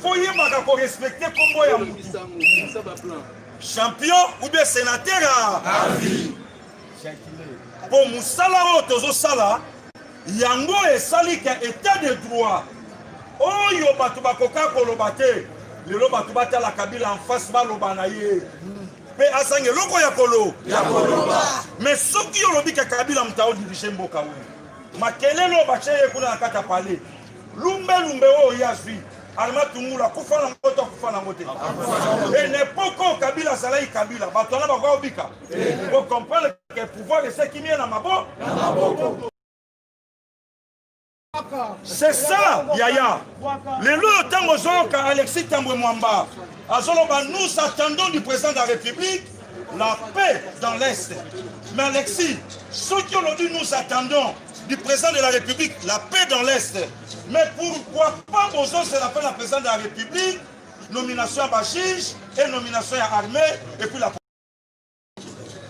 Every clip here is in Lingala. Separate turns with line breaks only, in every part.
Faut yebaka ko respecter kombo ya mutu. Champion ou bien sénateur à vie. Mpo mosala oyo tozosala yango esali ke état de droit oyo bato bakoka koloba te lelo bato batala kabila en face baloba na ye mpe azanga eloko ya kolo ya koloba me soki olobi ke kabila moto aodirige mboka oyo makelelo batie ye kuna na kati ya palais lumbe lumbe oyo ye azwi alma tungulu akufa na ngo to akufa na ngo te e n'epoque oyo kabila azalaki kabila bato wana bakoka kobika bocomprendre ke pouvoir esekimi ye na mabo c'est ça yaya lelo oyo ntango ozoyoka alexis tambwe mwamba azoloba nous attendons du président de la république la paix dans l'est mais alexis soki olobi nous attendons du président de la République, la paix dans l'Est. Mais pourquoi pas Bozo se rappelle la président de la République, nomination à Bachige et nomination à armée et puis la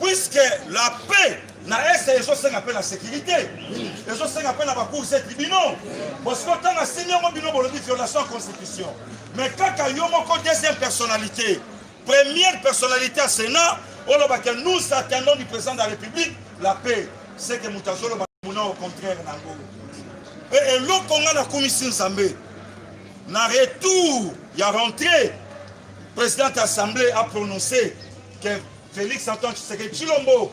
Puisque la paix na est ezosenga mpe na sécurité ezosenga mpe na bacours se tribunaux parce que ntango asimi yango bino bolobi violation ya constitution mais kaka yo moko deuxième personnalité Première personnalité ya Senat oloba que nous attendons du président de la République la paix. C'est que moto azoloba mona au contraire nango. Et eloko nga nakumisi Nzambe na retour ya rentrée président assemblée a prononcé que Félix Antoine Tshisekedi Tshilombo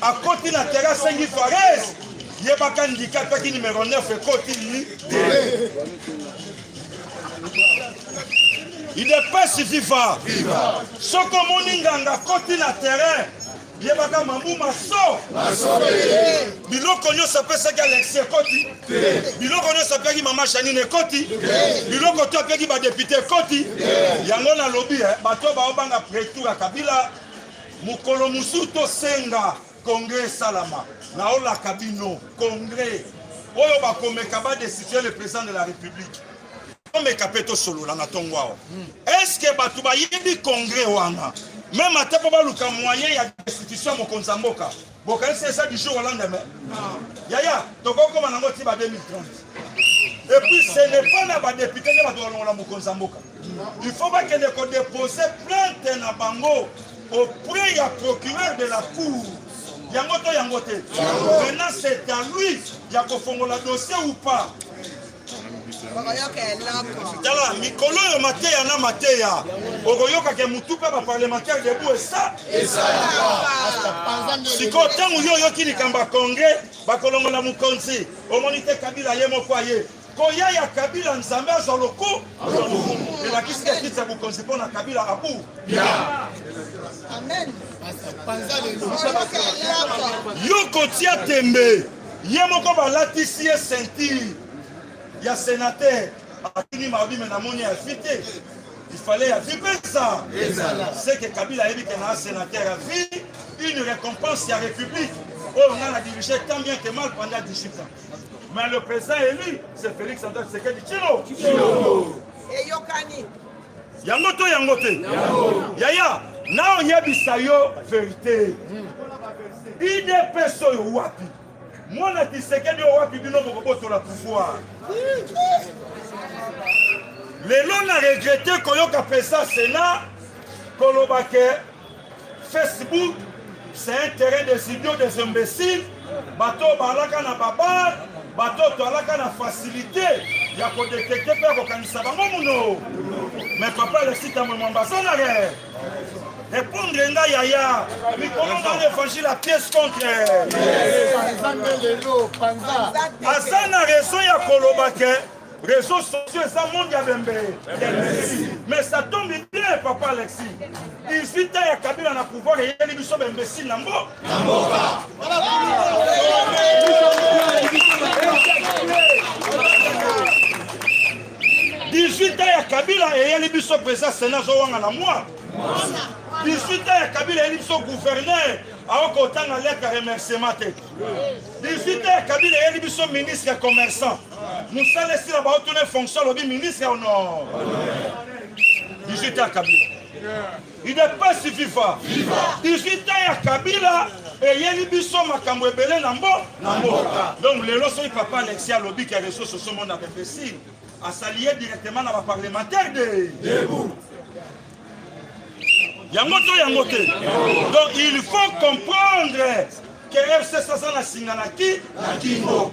Akoti na terrain asengi Fares yebaka ndika peki numero 9 ekoti te. Idepesi viva. Soko omoni nganga akoti na terrain yebaka mamu maso biloko nyonso apesaki alexi ekoti biloko nyonso apeki mama janine ekoti biloko to apeki badepute ekoti yango nalobi eh, bato baobanga pretour ya kabila Mokolo mosusu tosenga congrès esalama naolaka bino congrès oyo bakomeka badesitue le président de la république tomeka mpe tosolola na ntongo awa hmm. estce bato bayebi congrès wana meme ata mpo baluka moyen ya destitution ya mokonzi ya mboka bokanisi eza du jour au lendemain yaya tokokoma nango ti ba 2030 et puis ce n'est pas na badepute nde bato balongola mokonzi ya mboka il faut bakende kodepose plainte na bango auprès ya procureur de la cour yango to yango te maintenant c'est à lui ya kofongola dossier ou pas tala mikolo oyo mateya na mateya okoyoka ke motu mpe baparlementaire debu esa sikoyo ntango yo oyoki likambo ya congrès bakolongola mokonzi omoni te kabila ye moko aye koya ya kabila nzambe azwa loku elakisi te kiti ya bokonzi mpo na kabila abu yo kotia tembe ye moko balatisi ye ceinture ya senateur atuni mabi me namoni ya vi te ifale ya vi pesa seke kabila ayebi ke naa senateur ya vi une récompense ya république oyo ngai na dirige tant bien que mal pendant 18 ans mais le président élu c'est félix antoine tshisekedi chilo eyokani yango to yango te yaya naoyebisa yo verite idps oyo wapi mwana kisekedi oyo wapi bino bokobotola pouvoir lelo na regrete koyoka pesa sena koloba ke Facebook c'est un terrain des idiots des imbéciles bato oyo baalaka na babar bato oyo toalaka na facilité ya kodetekte mpe ya kokanisa bango muno me papa alesita mwe mwambazanare repondre nga yaya mikolo nga na évangile ya pièce contre aza na raison ya koloba ke Réseaux sociaux eza monde ya bembe mais ça tombe bien papa Alexis 18 ans ya Kabila na pouvoir eyeli biso ba imbécile na mbo na mboka dix-huit ans ya kabila eyeli biso président sénat azowanga na mwa 18 ans ya kabila eyeli biso gouverneur aoki kotanga leta remerciement te 18 ans ya kabila eyeli biso ministre ya commerçant mosala esila baotuna fonction alobi ministre ya honor digita kabila idepesi viva digita ya kabila eyeli biso makambo ebele na mbo na mboka donc lelo soki papa alexi alobi ke reseau socio mona bembesile asali ye directement na baparlementaire de debout yango to yango te donc il faut comprendre que rcs aza na singa na ki na kingo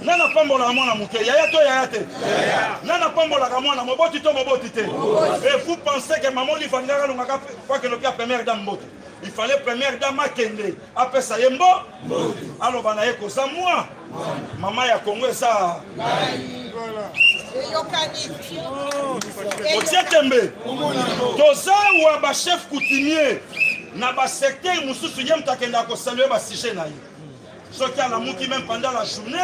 Nani apambolaka mwana moke? Yaya to yaya te? Nani apambolaka mwana moboti to moboti te? Et vous pensez que maman Olive alingaka alongaka kwa keloki ya première dame mbote? Il fallait première dame akende apesa ye mbo aloba na ye koza mwa mama ya Kongo eza otie tembe toza wa bachef coutumier na basecteur mosusu ye moto akendaka kosalue basujet na ye soki alamuki meme pendant la journée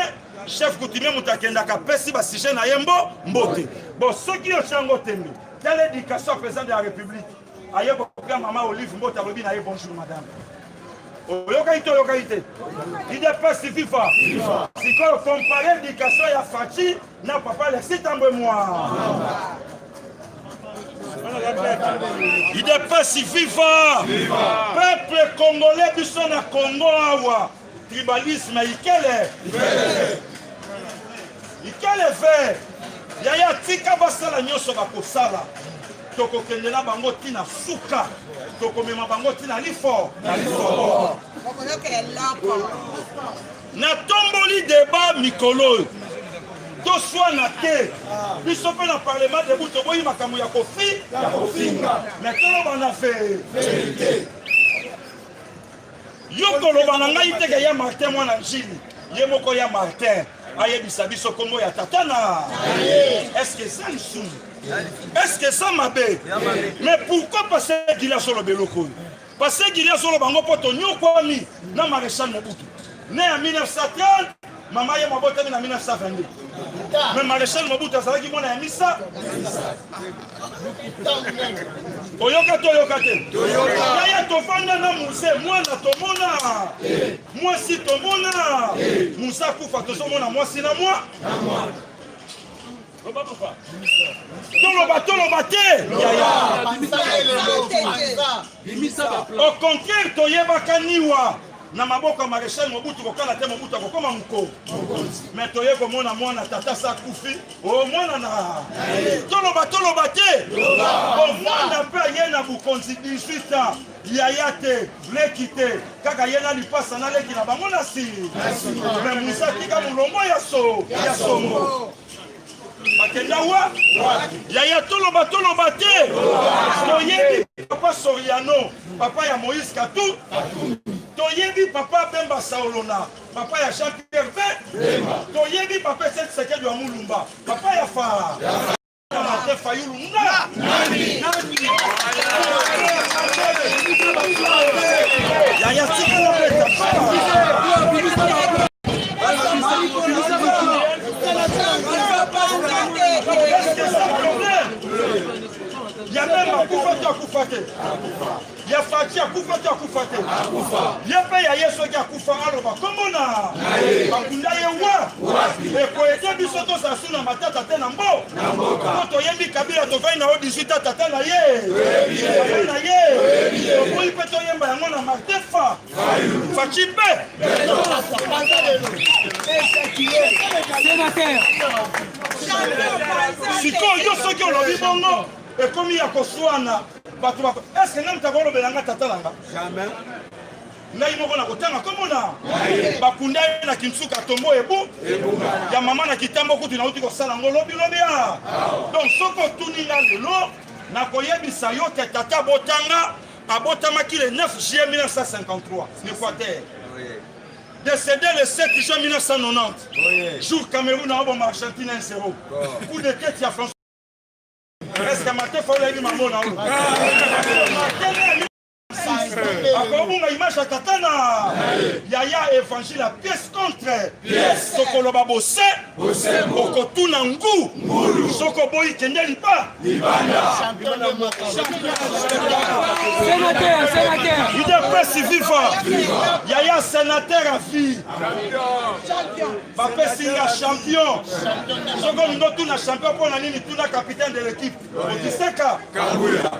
chef coutumier moto akendaka apesi basujet na ye mbo mbote bon soki yo chango tembe tala éducation ya président de la république aye kopia mama olive mbote alobi na ye bonjour madame oyokaki to oyokaki te idps viva sikoyo compare éducation ya faci Na papa le septembre moi. Il est pas si viva. viva. Peuple congolais du son à Congo awa. Tribalisme ikele. Ikele fait. Yaya tika basala nyoso bakosala. Tokokende na bango tina suka. Tokomema bango tina lifo. Na lifo. Natomboli debat mikolo oyo. Toswana te. Biso mpe na parlement debout toboyi makambo ya kofi ya kofinga. Mais toloba na verite. Yo koloba na ngai teke ya Martin mwana njili. Ye moko ya Martin ayebisa biso kombo ya tata na. Est-ce que ça lisumu? Est-ce que ça mabe? Mais pourquoi passer Gilas oloba eloko oyo? Pasteur Guilly azoloba yango mpo tonyokwami na Marechal Mobutu ne ya 1930 mama ye mabotami na 1922 me Marechal Mobutu azalaki mwana ya misa oyoka to oyoka te yaya tofanda na muse mwana tomona mwasi tomona musa kufa tozomona mwasi na mwa toloba toloba te au contraire toyebaka niwa na maboko ya marechal mobutu kokala te mobutu akokoma moko me toye komona mwana tata sa akufi o oh, mwana na toloba toloba te omwana mpe aye na bokonzi 18 ans yaya te leki te kaka ye na lipasa na leki na bango na sili me musa tika molongo ya songo bakenda wa yaya toloba toloba te toyebi papa soriano papa ya moïse katu toyebi papa bemba saolona papa ya jean pierre pe toyebi papa esekisekedi ya mulumba papa ya fa martin fayulu nga yaya tikala peta ya meme akufa to akufa te ya fati akufa to akufa te ye mpe ya ye soki akufa aloba komona bakunda ye wa ekoyete biso tozala su na matata te na mbo po toyebi kabila tovai na yo 18 atata na ye na ye toboyi mpe toyemba yango na martefa Fatshi mpe sikoyo yo soki olobi bongo ekomi ya koswana bato bako eske ngai moto akolobela ngai tata na nga ngai moko nakotanga komona bakunda ye na kinsuka tombo ebu ya mama na kitambo kutu nauti kosala yango lobilobi a donc soki otuni nga lelo nakoyebisa yo te tata botanga Abotamaki le 9 juillet 1953 na Equateur. Décédé le 7 juin 1990. Jour Cameroun a bon Argentine 1-0. Coup de tête ya François. Est-ce que Maté faut la maman na oyo? akobunga image ya tata na yaya évangile ya pièce contre pièce tokoloba bose bosembo okotuna ngu ngulu soko boyi kende liba libanda senateur senateur udps viva yaya senateur a vie bapesi nga champion soko olingi otuna champion mpo na nini tuna capitaine de l'équipe otiseka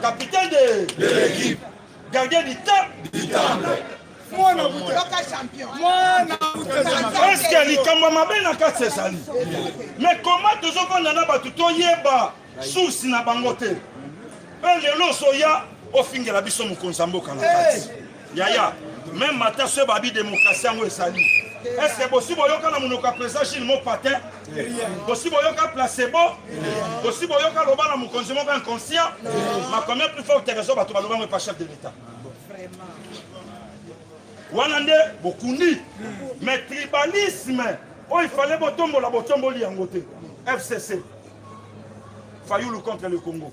capitaine de l'équipe Gardien du temps. Du temps. mwana eske likambo ya mabe na kati ezali me koma tozofanda na bato toyeba source na bango te mpe lelo ozoya ofingela biso mokonzi ya mboka na kati yaya meme ata so ebabi demokrasi yango ezali eske bosi boyoka na monoko ya president gile mopatin bosi boyoka placebo bosi boyoka loba na mokonzi moko inconscient makomia plus fort terezo bato baloba ngo epa chef de l'état wana nde bokundi mais tribalisme oyo ifale botombola botomboli yango te fcc fayulu contre le congo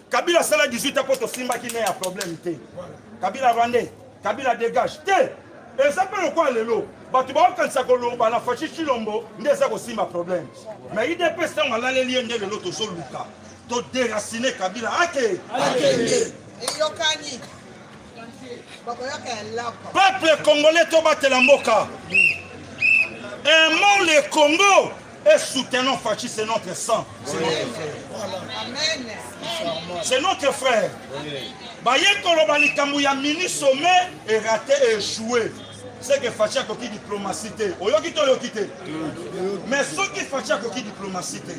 Kabila asala 18 ans mpo tosimbaki ne ya problème te Kabila rwandais Kabila dégage te eza mpe lokola lelo bato baokanisa koloba na fashi chilombo nde eza kosimba problème mais idps ntango alaleli ye nde lelo tozoluka toderacine kabila ake eyokani Peuple congolais tobatela mboka. Aimons le Congo et soutenons Fachi, c'est notre sang. C'est notre frère. Baye koloba likambo ya mini sommet et raté et joué. C'est que Fachi akoki diplomatie te. Oyoki to oyoki te. Mais soki Fachi akoki diplomatie te.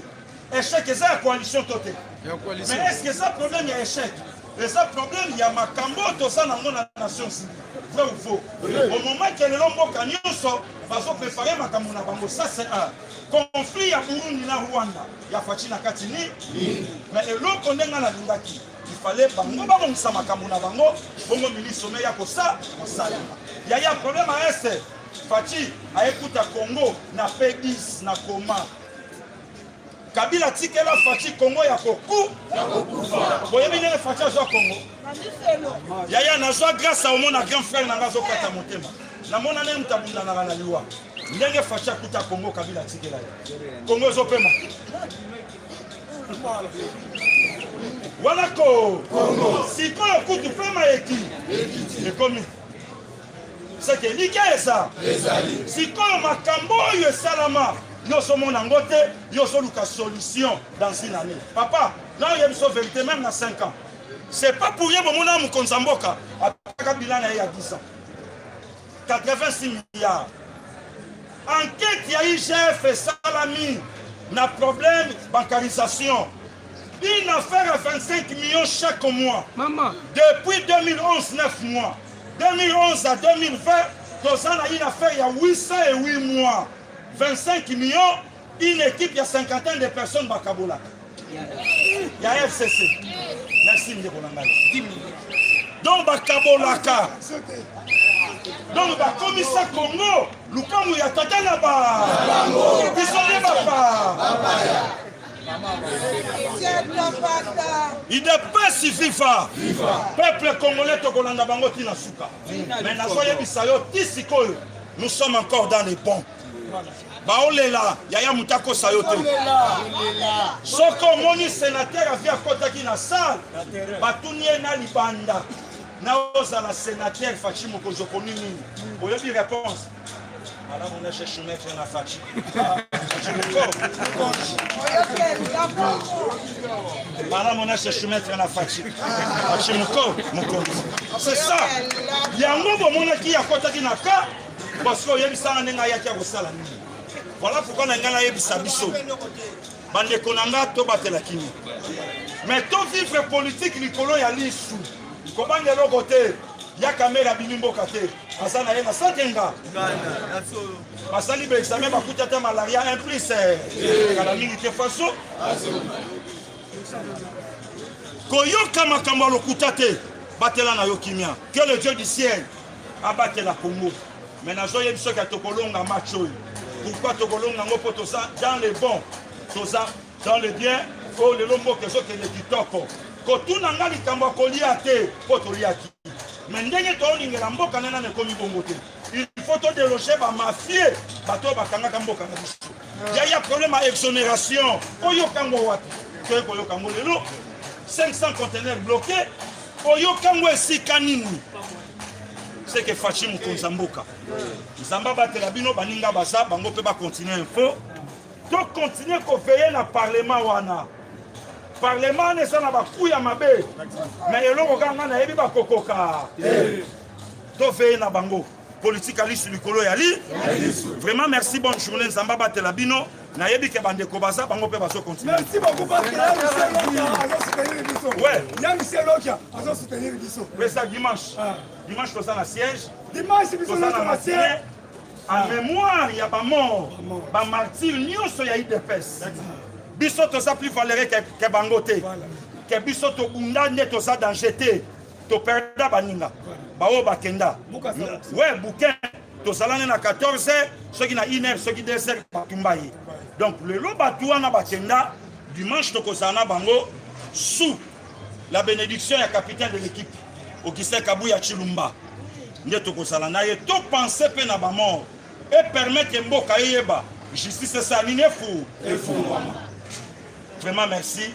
Echec eza ya coalition to te? Mais est-ce que eza problème ya echec? Eza problème ya makambo toza nango na Nations Unies. vrai ou faux au moment ke lelo mboka nyonso bazoprepare makambo na bango ça c'est un conflit ya burundi na rwanda ya faci na kati ni mais eloko nde ngai nalingaki ifale bango babongisa makambo na bango bongo ministre me ya kosa kosala yaya problème a este faci ayekuta congo na p10 na koma Kabila tikela Fatshi Congo ya koku boyebi ndenge Fatshi azwa Congo yaya nazwa grâce omona grand frère na nga azokata motema namona ndenge moto abundanaka na liwa ndenge Fatshi akuta Congo Kabila atikela ye Congo ezopema wana ko sikoyo kutu pema eki ekomi seke elikya eza ezali sikoyo makambo oyo esalama yo ozomona yango te yo ozoluka solution dans une année papa na oyebi so verité meme na 5 ans c'est pas pour ye bomona mokonzi ya mboka apaka bila na ye ya 10 ans 86 milliards enquête ya igf esalami na problème bancarisation une affaire à 25 millions chaque mois Maman. depuis 2011 9 mois 2011 à 2020, toza na une affaire ya 808 mois, 25 millions, une équipe ya 50 de personnes bakabola ya FCC. Merci ndeko na ngai. 10 millions. Donc bakabolaka. Donc bakomisa Congo lukamu ya tata na ba. Biso nde bapa. Il n'a pas suffi fa peuple congolais tokolanda bango ti na suka mais nazoyebisa yo ti sikoyo nous sommes encore dans les bons baolela yaya moto akosa yo te soki omoni senatere avi akotaki na sale batuni ye na libanda na ozala senatere faci mokonzi okoni nini oyebi réponse Malamu na chez Choumetre na Fatshi. Malamu na chez Choumetre na Fatshi. Fatshi moko mokonzi. C'est ça. Yango bomonaki akotaki na ka parce que oyebisanga ndenge ayaki akosala nini. Voilà pourquoi na ngai nayebisa biso. bandeko na nga tobatela kimia me to vivre politike likolo ya lisu kobanga eloko te ya kamere abimi mboka te aza na ye na sakenga basali baexame bakuti ata malaria un plus eh, kala mingi te faso koyoka makambo ya lokuta te batela na yo kimia que le dieu du ciel abatela congo mais nazoyebi soki ya tokolonga match oyo pourquoi tokolonga yango mpo toza dans le bon toza dans le bien oyo oh, lelo mboka ezokende kitoko kotuna nga likambo ya kolia te mpo toliaki me ndenge toolingela mboka nde nana ekomi bongo te il faut todeloge bamafie bato oyo bakangaka mboka na biso yaya problème ya exonération oyoka yango wapi toye koyoka yango lelo 500 contenaire bloqué oyoka yango esika nini seke fashi mokonzi ya mboka nzambe abatela bino baninga baza bango mpe bakontinue info tokontinue koveye na parlema wana parlema wana eza na baku ya mabe na eloko kaka ngai nayebi bakokoka toveye na bango politike ya lisu likolo ya li vraiment merci bonne journée nzambe abatela bino nayebi ke bandeko baza bango mpe bazo continuer merci beaucoup parce que ya
michel lokia azo soutenir biso
ouais ya michel
lokia azo soutenir biso pesa dimanche
ah. dimanche toza na siège dimanche biso na
siège en ah.
mémoire ya bamort bamartire nyonso ya idps biso toza plus valere ke bango te ke biso tobunda nde toza danger te toperda baninga baoyo bakenda we bukin tozalani na 14 soki na 1 heure soki 2 heures batumba ye donc lelo bato wana bakenda dimanche tokozala na bango sous la bénédiction ya capitaine de l'équipe augustin kabuya chilumba nde tokozala na ye topense mpe na bamort epermettre mboka eyeba justice esala nini efu efungwama vraiment merci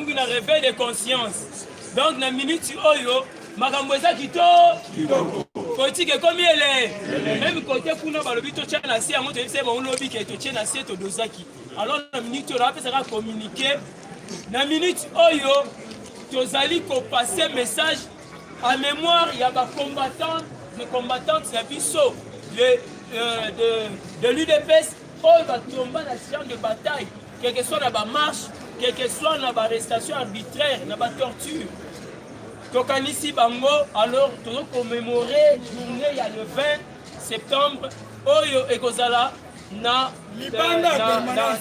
Tokomi na reveil de conscience. Donc na minute oyo makambo eza kitoko politike ekomi ele meme kote kuna balobi totya na se yango toyebisa ye bango lobi ke totye na se todozaki alors na minute oyo napesaka communiqué na minute oyo tozali kopase message à mémoire ya bacombattant de combattante ya biso de, euh, de, de l'udps oyo batomba na champ de bataille quel que soit na ba marche quel que soit na ba arrestation arbitraire na ba torture tokanisi bango alors tozo commémorer journée ya le 20 septembre oyo ekozala na libanda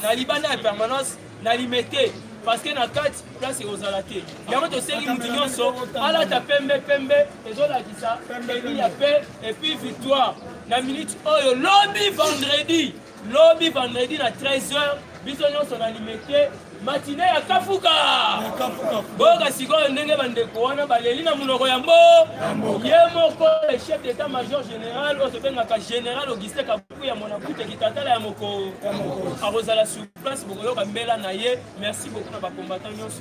na libanda ya permanence na limete parce que na kati place ekozala te yango tosengi moto nyonso alata pembe pembe ezolakisa eli ya pe epuis victoire na minute oyo lobi vendredi Lobi vendredi na 13h biso nyonso na limete matine ya kafuka boyoka sikoyo ndenge bandeko wana baleli na monoko ya mbo ye moko le chef d'état major général oyo tobengaka général augustin kabuku ya monabute kitatala ya moko akozala sur place bokoyoka mbela na ye merci beaucoup na bakombata nyonso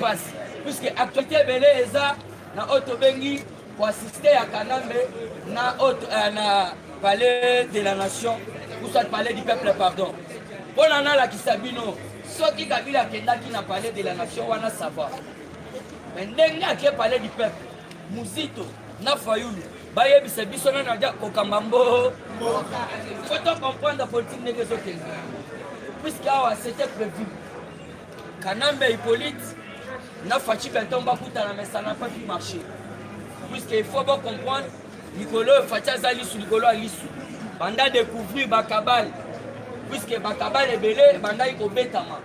pasi puisque actualité ebele eza na oyo tobengi koassiste ya kanambe na oyo eh, na palais de la nation ou soit palais du peuple pardon mpo na nalakisa bino soki kabila akendaki na palais de la nation wana sava me ndenge ake palais du peuple muzito na fayulu bayebisa biso nani aja kokamba mbo fo to comprendre politike ndenge ezokende puisque awa c'était prévu Kanambe Hippolyte na Fatshi Beton bakutana mais ça n'a pas pu marcher. Puisque il faut bien comprendre likolo oyo Fatshi aza lisu likolo ya lisu. Banda découvrir bakabale puisque bakabale ebele ebandaki kobetama.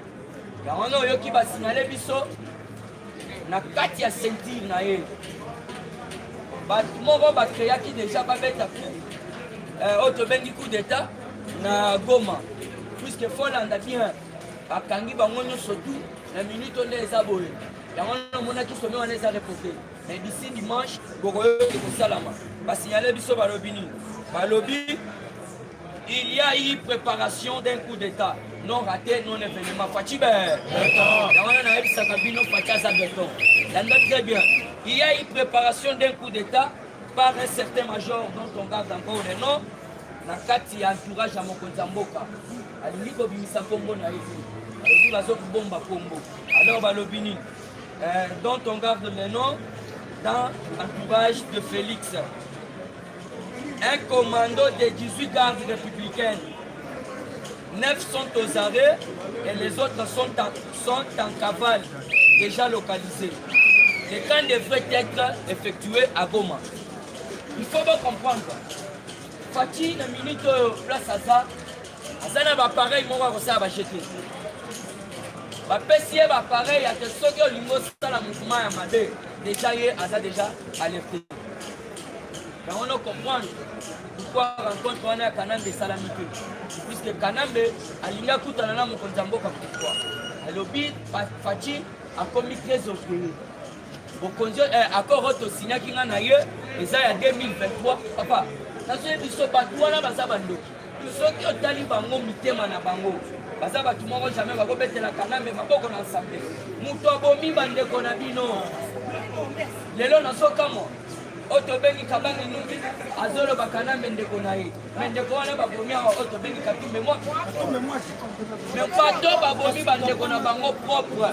Yango wana oyoki basignale biso na kati ya ceinture na ye bato moko bakreaki deja babeta ku eh, oyo tobengi coup d'état na goma puisque folanda bien bakangi bango nyonso tu na minute nde eza boye yango wana omonaki some wana eza reporte mais d'ici dimanche bokoyoki kosalama basignale biso balobi nini balobi il y a eu préparation d'un coup d'état non raté non événement faci be yango wana nayebisaka bino faci aza beton landa très bien il y a eu préparation d'un coup d'état par un certain major dont on garde encore le nom na kati ya entourage ya mokonzi ya mboka alingi kobimisa nkombo na ye te alobi bazokobomba nkombo alors balobi nini euh, dont on garde le nom dans l'entourage de félix un commando des 18 gardes républicaines 9 sont aux arrêts et les autres sont en, sont en cavale déjà localisés le camp devrait être effectué à goma il faut bocomprendre Fatshi na minute oyo place aza aza na bapareil moko akosala bajete bapesi ye bapareil ate soki olingi osala mouvement ya mabe deja ye aza deja alerte yango no comprendre pourquoi rencontre wana ya kanambe esalami te puisque kanambe alingi akutana na mokonzi ya mboka pourquoi alobi faci akomi très orgueilleux bokonzi eh, accord oyo tosignaki nga na ye eza ya 2023 papa nazoye biso bato wana baza bandoki soki otali bango mitema na bango baza bato moko jamai bakobetela kanambe maboko na nsambe moto abomi bandeko na bino lelo nazokamwa oyo tobengi kabangi nungi azoloba kanambe ndeko na ye me ndeko wana babomi awa oyo tobengi katumbe mwaki me bato babomi bandeko na bango propre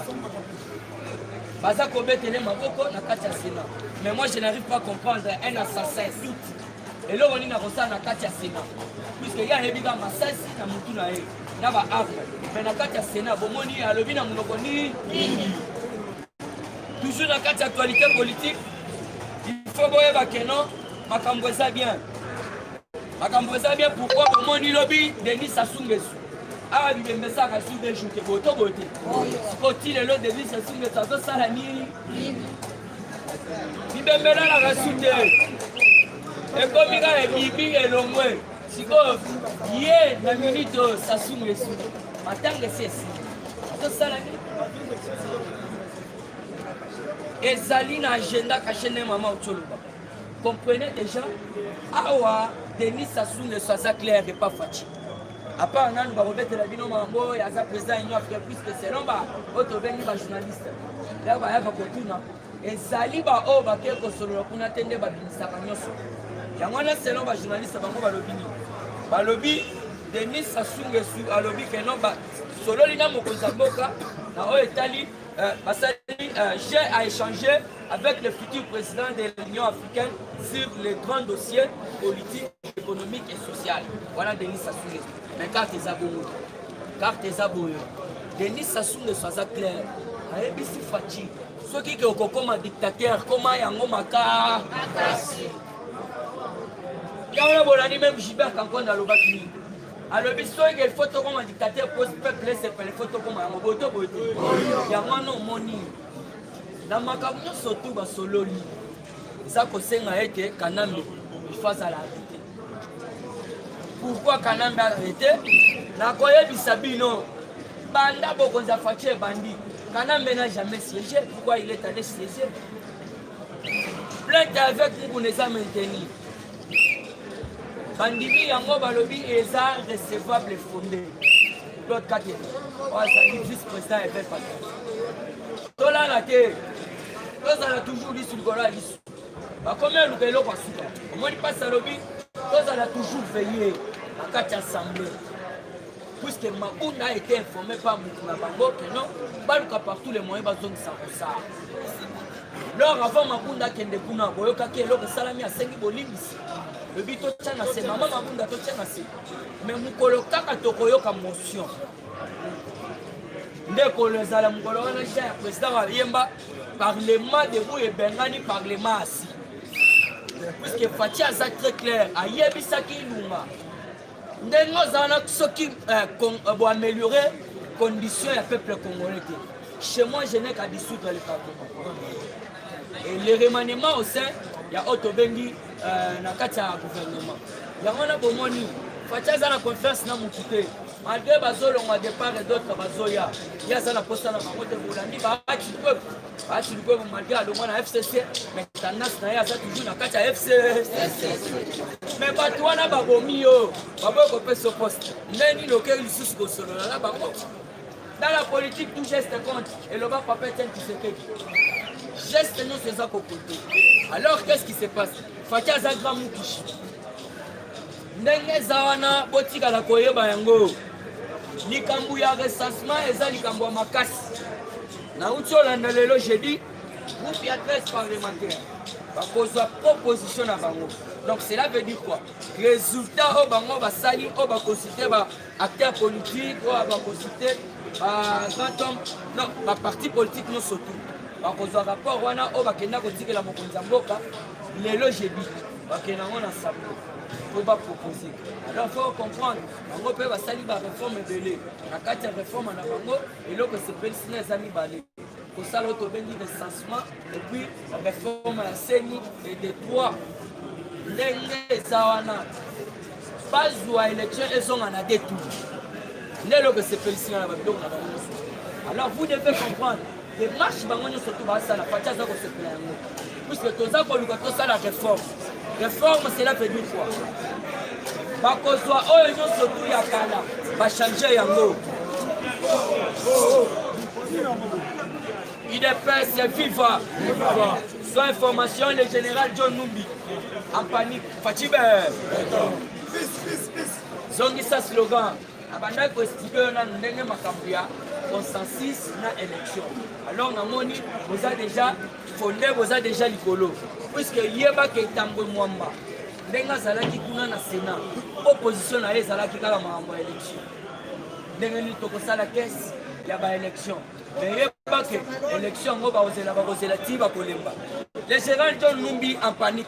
baza kobetele maboko na kati ya sena mais moi je n'arrive pas comprendre un assassin doute eloko nini akosala na kati ya sena puiske ye ayebi kaka masasi na motu na ye na baarme mais na kati ya sena bomoni alobi na monoko nini toujours na kati ya actualité politique il faut boyeba keno makambo eza bien makambo eza bien pourkoi bomoni lobi denis asungesu awa bibembe esaka sur de jour te boye to boye te siko ti lelo devis esunge to azosala nini bibembe elalaka su te ekomi kaka ebibi elongwe sikoyo ye na minute oyo sasunga esuki matanga esi esi azosala nini ezali na agenda kashe nde mama otoloba comprenez déjà awa denis sasunga eso aza claire epa faci apart nanu bakobetela bino mambo oyo aza président union africain puisque selon ba oyo tobengi bajournaliste ndako bayaka kotuna ezali baoyo bakei kosolola kuna te nde babimisaka nyonso yango wana selon bajournaliste bango balobi nini balobi denis sasungesu alobi keno basololi na mokonzi ya mboka na oyo etali Euh, basali euh, j'ai à échanger avec le futur président de l'Union africaine sur les grands dossiers politiques, économiques et sociaux. Voilà Denis Sassou Nguesso. Mais carte eza bongo. Carte eza bongo. Denis Sassou Nguesso aza clair. Ayebisi Fatshi soki ke okokoma dictateur koma yango maka yango na bolandi meme gilbert kankonda alobaki nini alobi soki il faut tokoma dictateur po peuple esepele faut tokoma yango boye to boye te yango wana omoni na makambo nyonso tu basololi eza kosenga ete kanambe ifo azala arrete pourkui kanambe arrete nakoyebisa bino banda bokonzi ya faci ebandi kanambe na jamais siege pourkui il est allé siege plainte ya avec mukuna eza mainteni bandimi yango balobi eza recevable fonde claude kate oyo azali vice président ya epe pata tolala te tozala toujours lisu likolo ya lisu bakomi aluka eloko ya suka omoni mpasi alobi tozala toujours veille na kati ya assemblée puisque mabunda a été informé par motu na bango que non baluka partout les moyens bazongisa kosala
lor avant mabunda akende kuna boyokaki eloko esalami asengi bolimbisi lobi totya na se mama mabunda totya na se me mokolo kaka tokoyoka motion nde ekolo ezala mokolo wana ja ya président ayemba parlement debout ebengani parlement asi puiske fati aza très claire ayebisaki ilunga ndenge oza wana soki eh, eh, boameliore condition ya peuple congolais te chez moi je n'ai qu'à dissoudre le parlement et le remaniement au sein ya oyo tobengi eh, na kati ya gouvernement yango wana bomoni faci aza na confiance na motu te malgre bazolongwa depart et d'autres bazoya ye aza na mposa na bango te bolandi baaki peuple Basi likuwa malgré alongwa na FCC mais tendance na ye aza toujours na kati ya FCC mais bato wana babomi yo baboyi kopesa yo poste nde nini okei lisusu kosolola na bango dans la politique tout geste compte eloba papa etienne tshisekedi geste nyonso eza kokote alors qu'est ce qui se passe fati aza grand mukishi ndenge eza wana botikala koyeba yango likambo ya recensement eza likambo ya makasi nauti olanda lelo jeudi groupe ya 13 parlementaire bakozwa proposition na bango donc cela veut dire quoi résultat oyo bango basali oyo bakonsulte ba acteur politique oyo bakonsulte ba grand homme non baparti politique nyonso tout bakozwa rapport wana oyo bakenda kotikela mokonzi ya mboka lelo jeudi bakende yango na sambo mpo bapropose alors fo comprendre bango mpe basali bareforme ebele na kati ya reforme na bango eloko esepelisi na eza mibale kosala oyo tobengi recensement epuis reforme ya seni et de droit ndenge eza wana bazwa election ezonga na de tour nde eloko esepelisi nga na babiloko na bango nyonso alors vous devez comprendre demarche bango nyonso to basala pati aza kosepela yango puisque toza koluka tosala réforme réforme cela veut dire quoi bakozwa oyo nyonso tu ya kala bachange yango idps viva soit information le général john numbi en panique Fatshi ben. Zongisa slogan. Abandaki ko expliquer yo nanu ndenge makambo ya consensus na élection. Alors namoni boza déjà fonde boza déjà likolo puisque yeba ke Tambwe Mwamba ndenge azalaki kuna na Sénat opposition na ye ezalaki kaka makambo ya élection. Ndenge nini tokosala caisse ya ba élection mais yeba ke élection yango bakozela bakozela ti bakolemba. Le général John Numbi en panique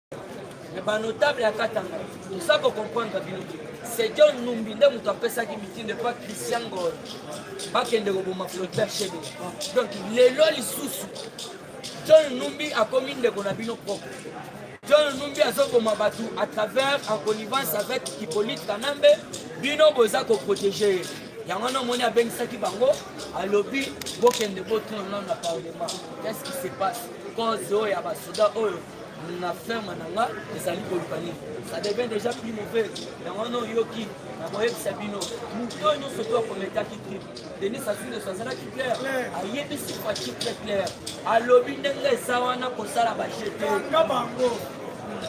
Mais ba notable ya Katanga, ça ko comprendre bino te. C'est John Numbi nde moto apesaki mitindo epa Christian Ngol bakende koboma Floribert Shebe. Donc lelo lisusu John Numbi akomi ndeko na bino propre. John Numbi azoboma bato à travers en connivence avec Hippolyte Kanambe, bino boza ko protéger ye. yango wana omoni abengisaki bango alobi bokende botuna nano na parlement qu'est ce qui se passe cause oyo ya basoda oyo na ferme na nga ezali koluka nini ça devient déjà plus mauvais yango wana oyoki na koyebisa bino moto oyo nyonso to akometaki trip denis asuleso azalaki clair ayebisi faci très clair alobi ndenge eza wana kosala bajete bango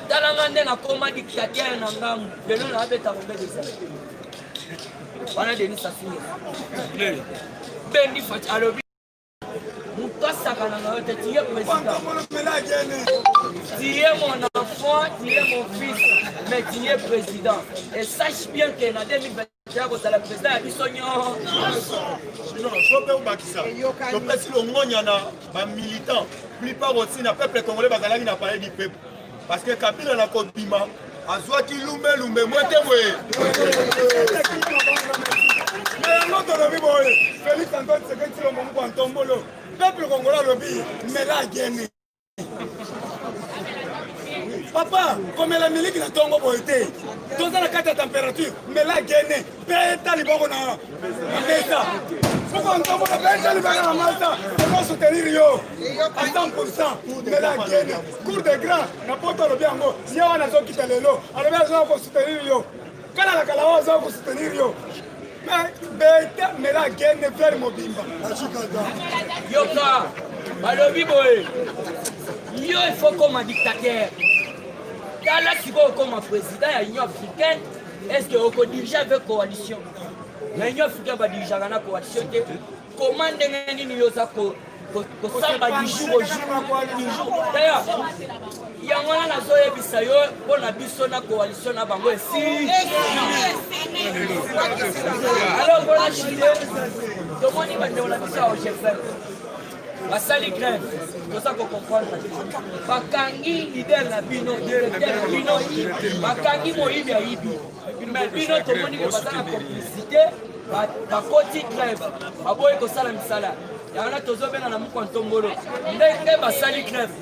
tala nga nde nakoma dictateur na ngambu lelo naabeta kobeta ezali wana denis asuleso bendi faci alobi Tu es mon enfant, tu es mon fils, mais tu es président. Et sache bien que en 2020, ya kozala président ya biso nyonso mpe obakisa topesi longonya na bamilitant plupart otina peuple congolais bazalaki na palais du peuple Parce que Kabila na kobima azwaki
lumbe lumbe mwete boye na yango tolobi boye Felix Antoine Tshisekedi Tshilombo Mukwa Ntombolo peuple congolais alobi mela ageni papa komela miliki na ntongo boye te toza na kati ya temperature mela gene beta liboko na mesa soko ntongo na beta libaka na masa eko soutenir yo a 100 pourcent mbela gene cour de grand na poto alobi yango ye wana azokita lelo alobi azoya kosoutenir yo kala na kala oyo azoya kosoutenir yo mais beta mbela gene fleur mobimba
yoka balobi boye yo ifo koma dictateur tala sikoyo koma président ya union africaine est ce que oko dirige avec coalition na union africain ba dirigeaka na coalition te koma ndenge nini yo oza kosamba du jour au jour du jour d'ailleurs yango wana nazoyebisa yo mpo na biso na coalition na bango esili alors mpona chile tomoni bandeko na biso ya ogefem basali grève toza kocomprendre bakangi lider na bino directeur na bino bakangi moyibi ayibi me bino tomoni ke baza na complicité bakoti grève baboyi kosala misala yango na tozobela na mokwa ntombolo ndenge basali grève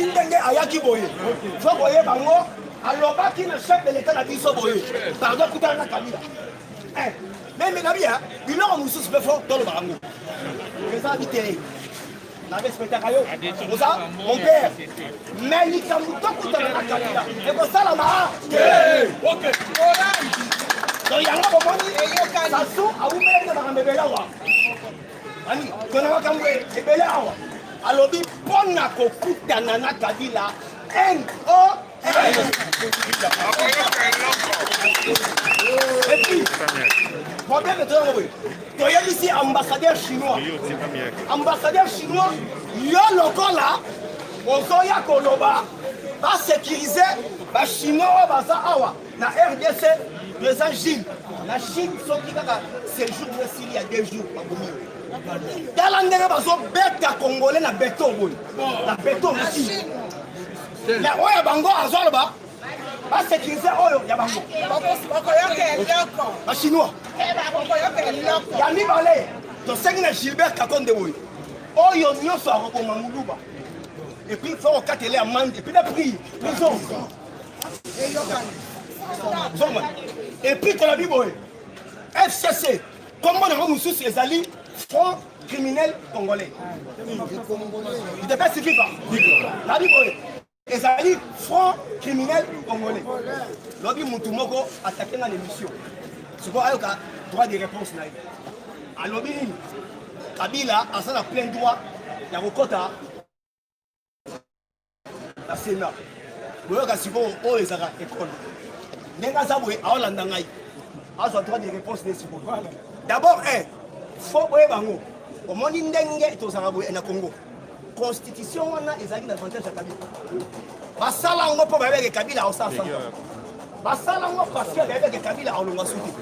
ti ndenge ayaki boye fo koyeba ngo alobaki na chef de l'etat na biso boye pardon kutana na kabila eh, meme na bia biloko mosusu mpe fo toloba yango eza bitei na respectaka yo oza mon père mais likambo tokutana na kabila ekosalama donc yango bomoni sasu awumelaki na makambo ebelawa Ani, tona makambo ebele awa. Alobi pona kokutana na Kabila NO Et puis, problème est très mauvais. toyebisi ambassadeur chinois ambassadeur chinois yo lokola ozoya koloba basécurise bachinois oyo baza awa Na RDC, Président Gilles, na Chine, soki kaka séjour na sili ya deux jours, bakomi yo. Tala ndenge bazobeta Congolais na beton boye, na beton na Chine. Ya oyo bango azoloba, basekirize oyo ya bango. Bachinois. Ya mibale, tosengi na Gilbert Kakonde boye, oyo nyonso akoboma muluba, epuis fo kokatela amande, epuis na prix, prison. epuis tolobi boye fcc kombo nango mosusu ezali front criminel congolais idepesi viva nabi boye ezali front criminel congolais lobi motu moko atake nga na émission sikoyo ayoka droit de réponse na ye alobi nini kabila aza na plein droit ya kokɔta na sena boyoka sikoyo oyo ezaka ekole ndenge aza boye aolanda ngai azwa droit de réponse nde sikoyo d'abord un eh, fo boye bango omoni ndenge tozalaka boye na congo constitution wana ezalaki na avantage ya kabila basala yango mpo bayebeke kabila aosala basala ngo parce que ayebaki ke kabila alonga soki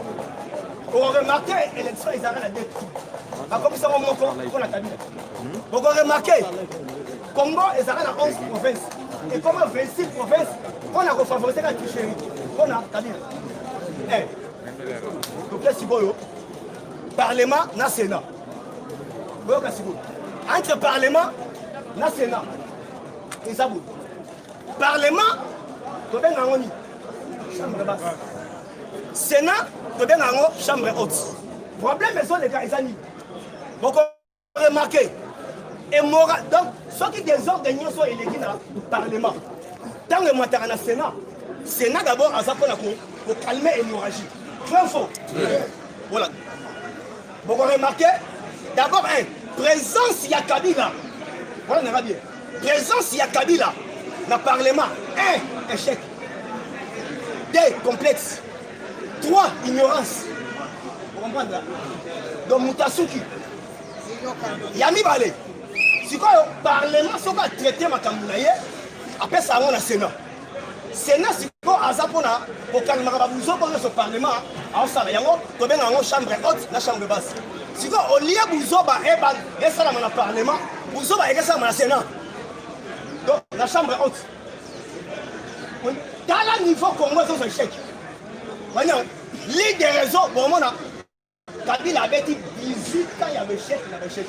oremarke élection ezalaka na deux tour bakomisa ngo moko mpo na kabila bokoremarke congo ezalaka na 11 province ekoma 26 province mpo na kofavorise ka tricherie mpo na kabila eh. toke sikoyo parlement na sénat boyoka sikoyo entre parlement na sénat eza boye parlement tobenga yango nini chambre basse sénat tobenga yango chambre haute problème ezoleka eza nini boko remarke emoral donc soki desordre nyonso eleki na parlement ntango emataka na sénat sénat d'abord aza mpona kokalme hémorragie vrai faux voilà boko remarke d'abord un présence ya kabila wana nanga bien Presence ya Kabila na parlement 1 échec 2 complexe 3 ignorance okomprendre donc moto asuki ya mibale sikoyo parlement soki atraite makambo na ye apesa yango na senat Sénat siko aza pona kokalimaka ba buzoba nyonso parlement aosala yango tobenga yango chambre haute na chambre basse siko olie buzoba ebal esalama na parlement buzoba ekesalama na sénat donc na chambre haute tala niveau congo ezozwa échec baniango ligue de réseau bomona Kabila abeti 18 ans ya bechec na bechec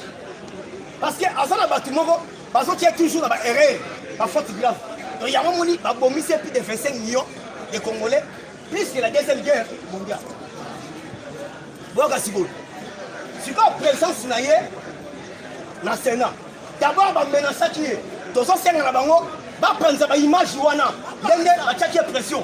parce que aza na bato moko bazotia toujours na baerreur bafaute grave to yango moni babomisi plus de 25 millions de congolais plus que la deuxième guerre mondiale boyoka sikoyo sikoyo présence na ye na sénat d'abord bamenasaki ye tozosenga na bango bapanza baimage wana ndenge batiaki ye pression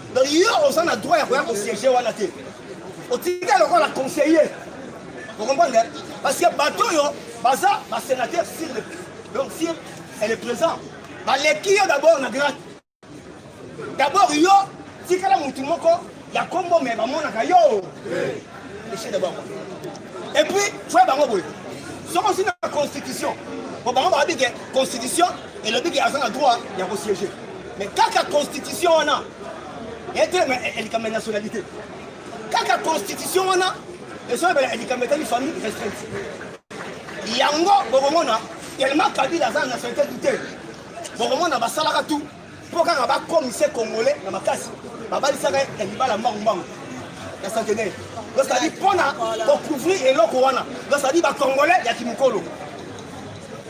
donc yo oza na droit ya koya kosiege wana te otika lokola conseiller okomprendre parce que bato oyo baza basénateur sur le donc si elle est présent baleki yo d'abord na grade d'abord yo tikala motu moko ya kombo me bamonaka yo echec d'abord et puis foye bango boye soki osi na constitution po bango bayebi ke constitution elobi ke aza na droit ya kosiege Mais kaka constitution wana etelema likambo ya nationalité kaka constitution wana ezoyebela likambo etali famille restreinte yango bokomona telema kabila aza na nationalité du te bokomona basalaka tout mpo kaka bakomise congolais na makasi babalisaka ya libala mbangumbangu ya centenaire dosadi mpona kocouvrir eloko wana dosadi bacongolais ya kimokolo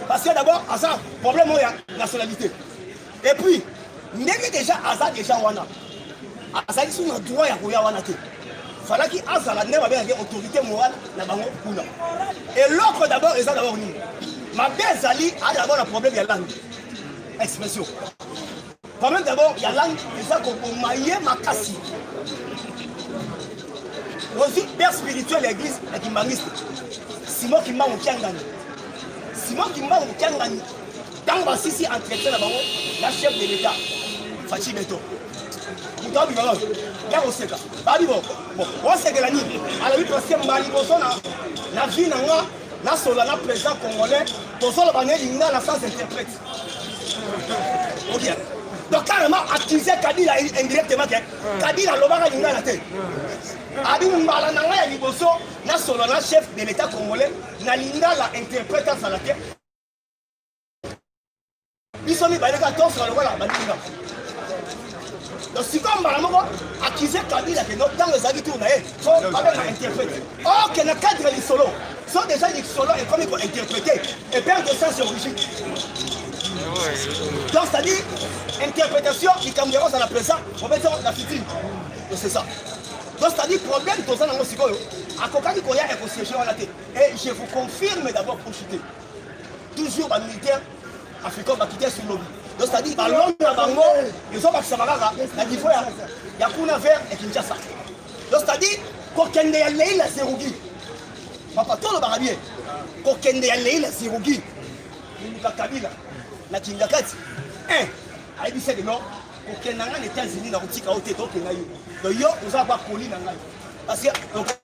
parce que d'abord aza problème oyo ya nationalité et puis ndenge deja aza deja wana azali so na droit ya koya wana te falaki azala nde babengaki autorité morale na bango kuna eloko d'abord eza d'abord nini mabe ezali aa d'abord na problème ya langue expression problème d'abord ya langue eza koboma ye makasi ozwi père spirituel ya église ya kimbangiste simon kimbangu kiangani simon kimbangu kiangani Tango ba sisi entretien na bango na chef de l'etat Fatshi Beton. Moto abima ba ya koseka babi bo bon osekela nini alobi parce que mbali boso na na vie na nga nasola na président congolais tozoloba ne lingala sans interprète okiana donc carrément accusé kabila indirectement ke kabila alobaka lingala te abi mbala na ngai ya liboso nasolo na chef de l'état congolais na lingala interprète azala te biso mibale kaka tosala lokola baninga donc sikoyo mbala moko akize kabila ke donc ntango ezalaki tour na ye po babeka interprète oke na cadre ya lisolo so déjà lisolo ekomi kointerprète eperde sens ya origine donc c'est-à-dire interprétation likambo yango ozala présent obeti yango na fitine donc c'est ça donc c'est-à-dire problème toza nango sikoyo akokaki koya ekosiege wana te et je vous confirme d'abord pour chute toujours ba militaire africain bakite sur lobi donc c'est-à-dire balongo na bango ezobakisama kaka na niveau ya kuna vers ya kinshasa donc c'est-à-dire kokende ya lei na zerugi papa tolobaka bien kokende ya lei na zerugi moluka kabila na kingakati un ayebisaki non kokende na ngai na états-unis na kotika yo te tokenda yo donc yo oza bakoli na ngai parce que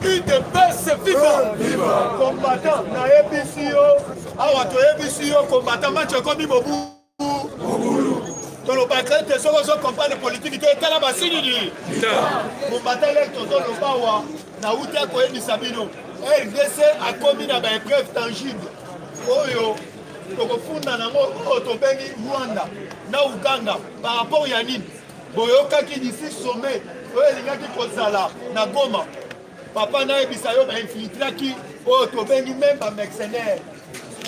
udps
viva combattant nayebisi yo awa toyebisi yo combattant match ekomi mobu tolobaka ete soki ozo comprendre politiki te etala basilili mombata leki tozoloba awa nauti akoyebisa bino rdc akomi na baepreuve tangible oyo tokofunda nango oyo tobengi rwanda na uganda par rapport ya nini boyokaki d'ici sommet oyo elingaki kozala na goma papa nayebisa yo bainfiltraki oyo tobengi meme bamercenaire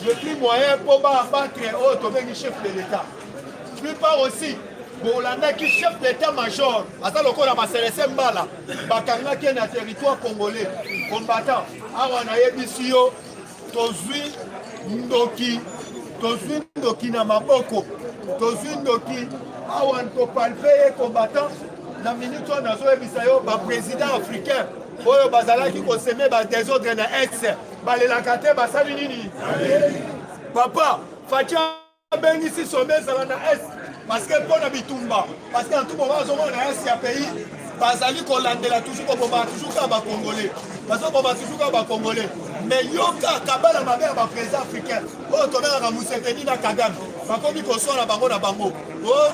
depuis moyen mpo baabatre oyo tobengi chef de l'état plupart aussi bolandaki chef d'état major aza lokola baselese mbala bakangaki ye na territoire congolais combattant awa nayebisi yo tozwi ndoki tozwi ndoki na maboko tozwi ndoki awa ntopalpe ye combattant na minute oyo nazoyebisa yo baprésident africain oyo bazalaki koseme badesordre na est balelaka te basali nini papa facia abengisi sommet ezala na est parce que mpo na bitumba parce que antuko ba azomona na est ya pays bazali kolandela toujours koboma toujours kaka bacongolais bazoboma toujours kaka bacongolais mais yoka kabala mabe ya baprésident africain oyo tobengaka museveni na kagame bakomi koswana bango na bango oh,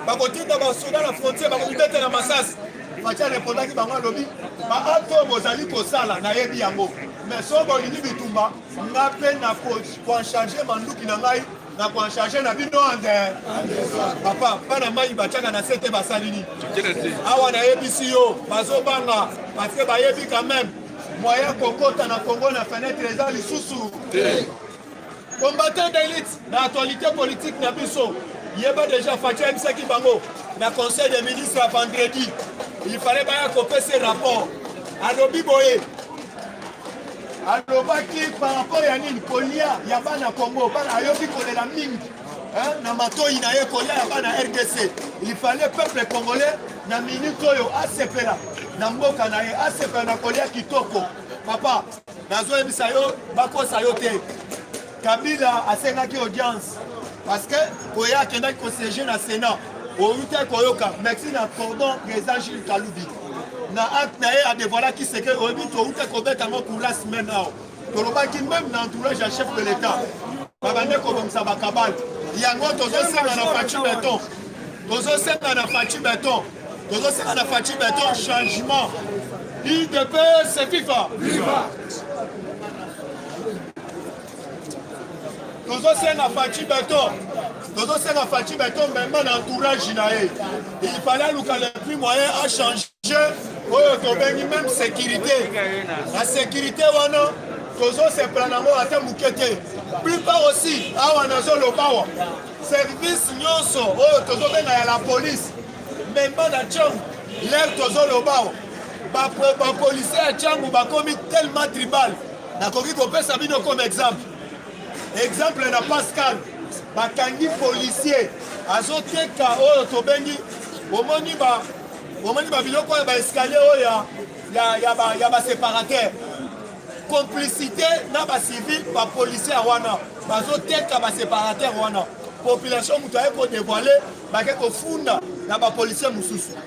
bakotinda basoda na frontière bakomibetela masasi faci arepondaki bango alobi baacte oyo bozali kosala nayebi yango mais so bolingi bitumba nga mpe nakoancharge manduki na ngai nakoancharge na bino ande papa bana mai batyaka na se te basali nini awa nayebisi yo bazobanga parce que bayebi quand même moyen kokota na kongo na fenetre eza lisusu combattant d'élite na actualité politique na biso yeba déjà faci ayebisaki bango na conseil des ministres ya vendredi il fallait baya kopesa rapport alobi boye alobaki par rapport ya nini kolia ya bana congo bana ayoki kolela mingi hein, na matoi na ye kolia ya bana rdc il fallait peuple congolais na minute oyo asepela na mboka na ye asepela na kolia kitoko papa nazoyebisa yo bakosa yo te Kabila asengaki audience parce que koya akendaki kosiege na Sénat outi koyoka merci na cordon président Gilles Kalubi na acte na ye adevoilaki seke oyebi touta kobeta yango courage semaine awa tolobaki meme na entourage ya chef de l'état babande kobongisa bakabale yango tozosenga na faci beton tozosenga na faci beton tozosenga na faci beton changement idps fifa tozosenga faci beton tozosenga faci beton meme na entourage na ye il fallait aluka le plus moyen achange oyo tobengi meme sécurité na sécurité wana tozosepela nango ata moke te plupart aussi awa nazoloba awa service nyonso oyo tozobenga ya la police meme na chong lere tozoloba awa Ba, ba policiers ya Changu bakomi tellement tribal. Nakoki kopesa bino comme exemple. Exemple na Pascal bakangi policier azoteka oyo tobengi omoni ba omoni ba biloko ya ba escalier oyo ya ya ya ba ya ba separateur complicité na ba civil ba policier wana bazoteka ba separateur wana population moto aye kodevoile bake kofunda na bapolisier mosusu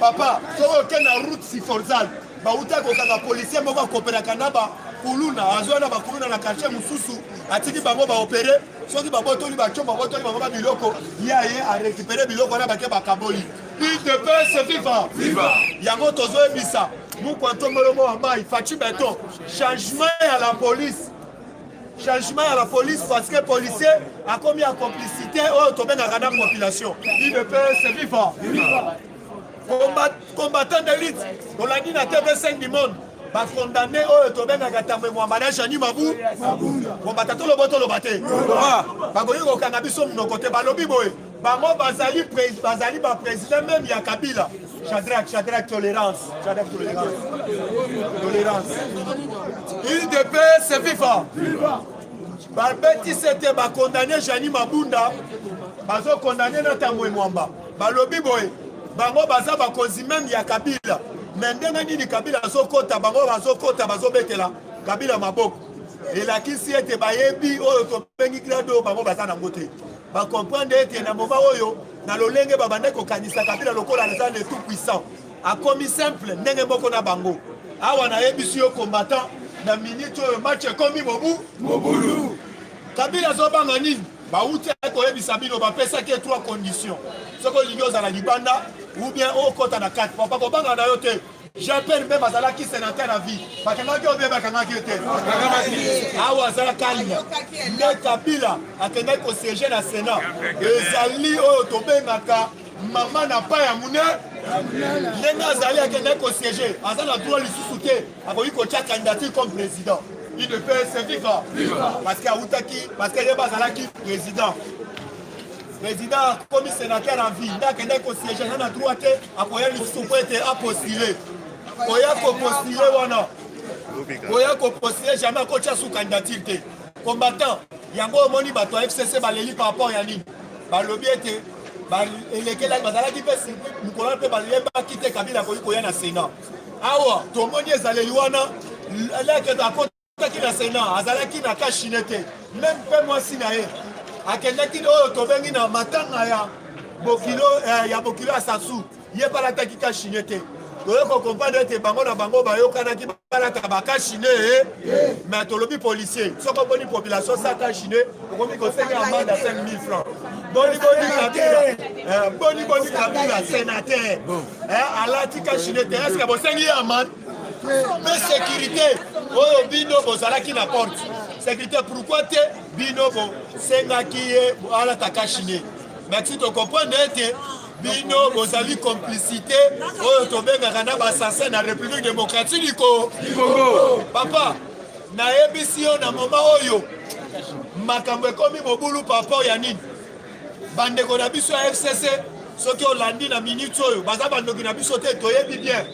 papa soki oke na route siforzal bauta kokanga policier moko akoperaka na bakuluna azwa na bakuluna na quartier mosusu atiki bango baopere soki babotoli baco babotoli bango ba biloko ye aye arekipere biloko wana bake bakaboli udps viva yango tozoyebisa mukwantomolomo ya mai faci beton changement ya la police changement ya la police parce que policier akomi ya complicité oyo oh, tobengaka na population idps viva combattant de lutte olandi na tv 5 du monde bacondamne oyo tobengaka tambo emwamba na jani mabu kombata tolobo toloba te bakoki kokanga biso monoko te balobi boye bango bazali bazali ba président meme ya kabila chadrak chadrak tolérance chadrak tolérance tolérance udps viva babeti sete bakondane jani mabunda
bazokondane na tambwe mwamba balobi boye bango baza bakonzi meme ya kabila me ndenge nini kabila azokota bango bazokota bazobetela kabila maboko elakisi ete bayebi oyo tobengi grade oyo bango baza nango te ba comprendre ete na moma oyo na lolenge babandaki kokanisa kabila lokola aza le tout puissant akomi simple ndenge moko na bango awa nayebisi yo combattant na minute oyo match ekomi mobu mobulu kabila azobanga nini bauti koyebisa bino bapesaki ye trois conditions soki olingi ozala libanda ou bien okota na kati papa kobanga na yo te Jean-Pierre Bemba azalaki senateur à vie. Bakangaki yo beba bakangaki yo te. Awa azala kalina. Nde Kabila akendaki ko siéger na Sénat. Ezali oyo tobengaka mama na pa ya mune ndenge azali akendaki ko siéger aza na droit lisusu te akoki kotya candidature comme président il ne peut se vivre parce que awutaki parce que ye bazalaki président president akomi senateur en vie nde akendaki kosiege na na droit te akoya lisusu mpo ete apostile koya kopostile wana koya kopostile jamais akotya su candidature te combattant yango omoni bato ya fcc baleli par rapport ya nini balobi ete elekelaki bazalaki mpe mokolo wana mpe balembaki te kabila akoki koya na senat awa tomoni ezaleli wana leke akoti akendaki na senat azalaki na kashine te meme mpe mwasi na ye akendaki oyo tobengi na matanga ya bokilo eh, ya bokilo ya sasu ye mpe alataki kashine te toye kokomprendre ete bango na bango bayokanaki balata bakashine eh. mais tolobi policier soki oboni population sa kashine okomi kosenga amande ya 5000 francs boni boni kabila eh, boni boni kabila senateur alati kashine te eske bosengi ye amande mpe sekirite oyo bino bozalaki na porte sekirite pourkui te bino bosengaki ye alata kashine merci tokomprendre ete bino bozali complicité oyo tobengaka na basanse na république démocratique du congo papa nayebisi yo na moma oyo makambo ekomi mobulu papa ya nini bandeko na biso ya fcc soki olandi na minute oyo baza bandoki na biso te toyebi bien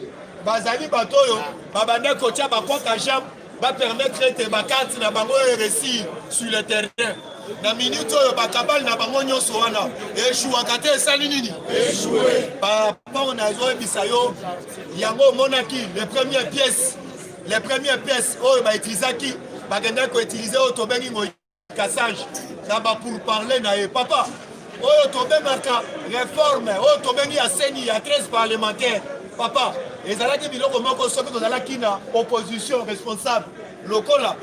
bazali bato oyo babanda kotya bakwaka jambe bapermettre ete bakarte na bango eresir sur le terrain na minute oyo bakabale na bango nyonso wana eshuwaka te esali nini paraport nazoyebisa yo yango omonaki le premier pièce le premier pièce oyo bautilisaki bakendaki koutilize oyo tobengi ngoi cassage na ba pour parler na ye papa oyo tobengaka reforme oyo tobengi ya seni ya 13 parlementaire papa ezalaki biloko moko soki tozalaki na opposition responsable lokola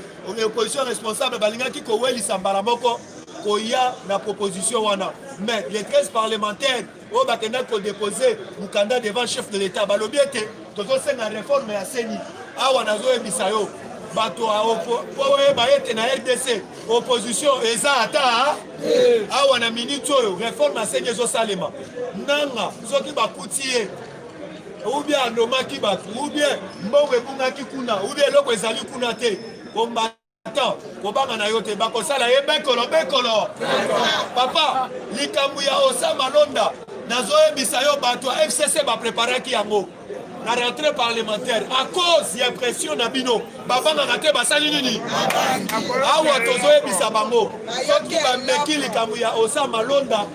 opposition responsable balingaki kowelisa mbala moko koya na proposition wana mais les 13 parlementaires oyo bakendaki kodepose mokanda devant chef de l'etat balobi ete tozosenga reforme ya seni awa nazoyebisa yo bato mpo oyeba ete na rdc opposition eza ata eh. awa na miniti oyo reforme ya seni ezosalema nanga soki bakuti ye ubie alomaki bato ubie mbongo ebungaki kuna ubie eloko ezali kuna te temps kobanga na yo te bakosala ye bekolo bekolo papa likambo ya osama londa nazoyebisa yo bato ya fcc bapreparaki yango na rentrée parlementaire à cause ya pression na bino bavandaka te basali nini awa tozoyebisa bango soki bameki likambo ya osa malonda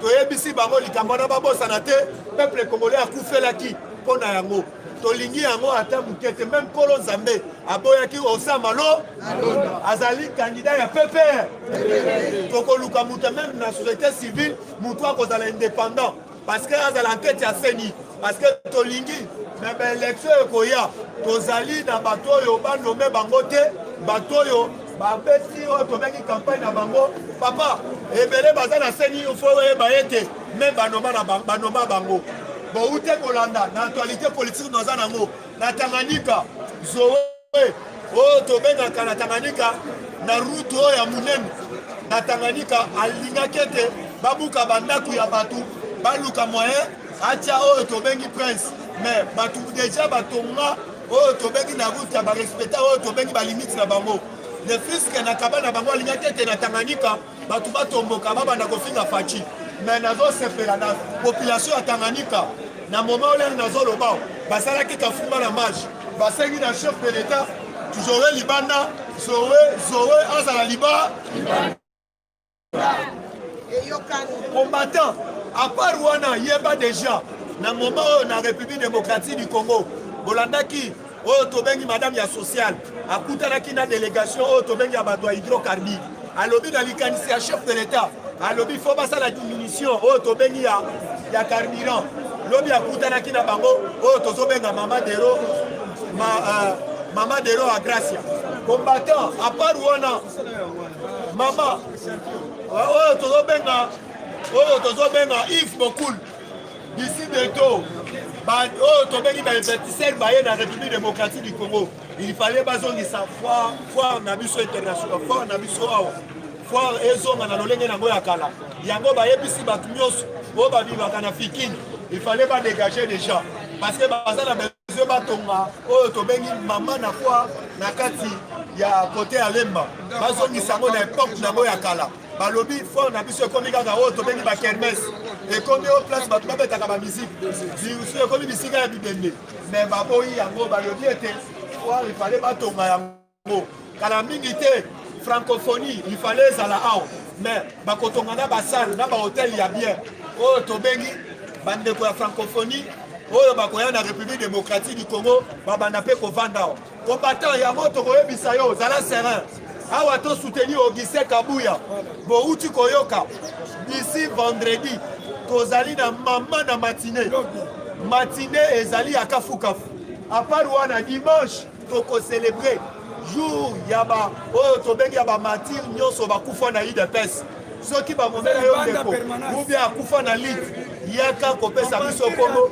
toyebisi bango likambo wana babosana te peuple congolais akufelaki mpo na yango tolingi yango ata moke te meme nkolo nzambe aboyaki osama lo azali kandida ya pepr tokoluka moto meme na société civile moto akozala indépendant parce que azala ankete ya seni parce que tolingi me baelektio ekoya tozali na bato oyo banome bango te bato oyo Ba beti oyo tobengi campagne na bango papa ebele baza na seni il faut oyeba ete me banoma na ba- banoma bango boute kolanda na actualité politique naza nango na Tanganyika Zoe oyo tobengaka na Tanganyika na route oyo ya monene na Tanganyika alingaki ete babuka bandako ya bato baluka moyen atia oyo tobengi prince mais bato deja batonga oyo tobengi na route ya barespecta oyo tobengi balimite na bango le fiske na kaba na bango alingaki ete na tanganyika bato batomboka babanda kofinga faci me nazosepela na population ya tanganyika na moma olele nazoloba basalaki kafumba na marche basengi na chef de l'etat zoe libanda zoe zoe azala liba combattant apart wana yeba deja na moment oyo na république démocratique du congo bolandaki oyo tobengi madame ya sociale akutanaki na délégation oyo tobengi ya bato ya hydrocarbure alobi na likanisi ya chef de l'état alobi fo basala diminution oyo tobengi ya, ya carburant lobi akutanaki na bango oyo tozobenga mama dero ma, uh, mama dero agracia combattant apart wana mama oyo tozobenga oyo tozobenga ive bokul d'ici bientôt oyo tobengi bainvestiseur baye na république démocratique du congo il fallait bazongisa foire foire na biso international foire na biso awa foire ezonga na lolenge nango ya kala yango bayebisi bato nyonso oyo babimaka na fikini il fallait badégage déjà parce que baza na ezo batonga oyo tobengi mama na kwa na kati ya kote ya lemba bazongisa yango na epoke na yango ya kala balobi fort na biso ekomi kaka oyo tobengi bakermes ekomi oyo place bato babetaka bamiziki bisu ekomi bisika ya bibende me baboyi yango balobi ete foire ifale batonga yango yango kala mingi te francophonie il fallait ezala awa mais bakotonga na basale na bahotel ya bien oyo tobengi bandeko ya francophonie oyo bakoya na république démocratique du congo babanda mpe kovanda awa combattant yango tokoyebisa yo zala serin awa to soutenir augustin kabuya bouti koyoka d'ici vendredi tozali na mama na matine matine ezali ya kafukafu apart wana dimanche toko celebre jour ya ba oyo tobengi ya bamartire nyonso bakufa na udps soki bamomela yo ndeko ubie akufa na lite yaka kopesa biso kongo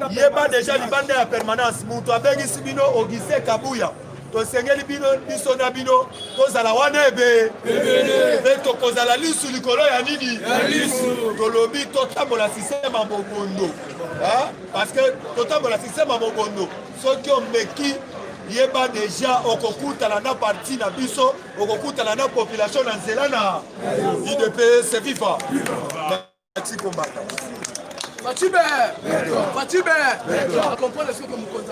yeba deja libanda ya permanence moto abengisi bino auguste kabuya tosengeli bino biso na bino tozala wana ebe mpe tokozala lisu likolo ya nini tolobi totambola sisteme ya bobondo parce que totambola système ya mobondo soki omeki yeba deja okokutana na parti na biso okokutana na population na nzela na udps viva merci kombata facibe facibe akomprendre soki mokonzi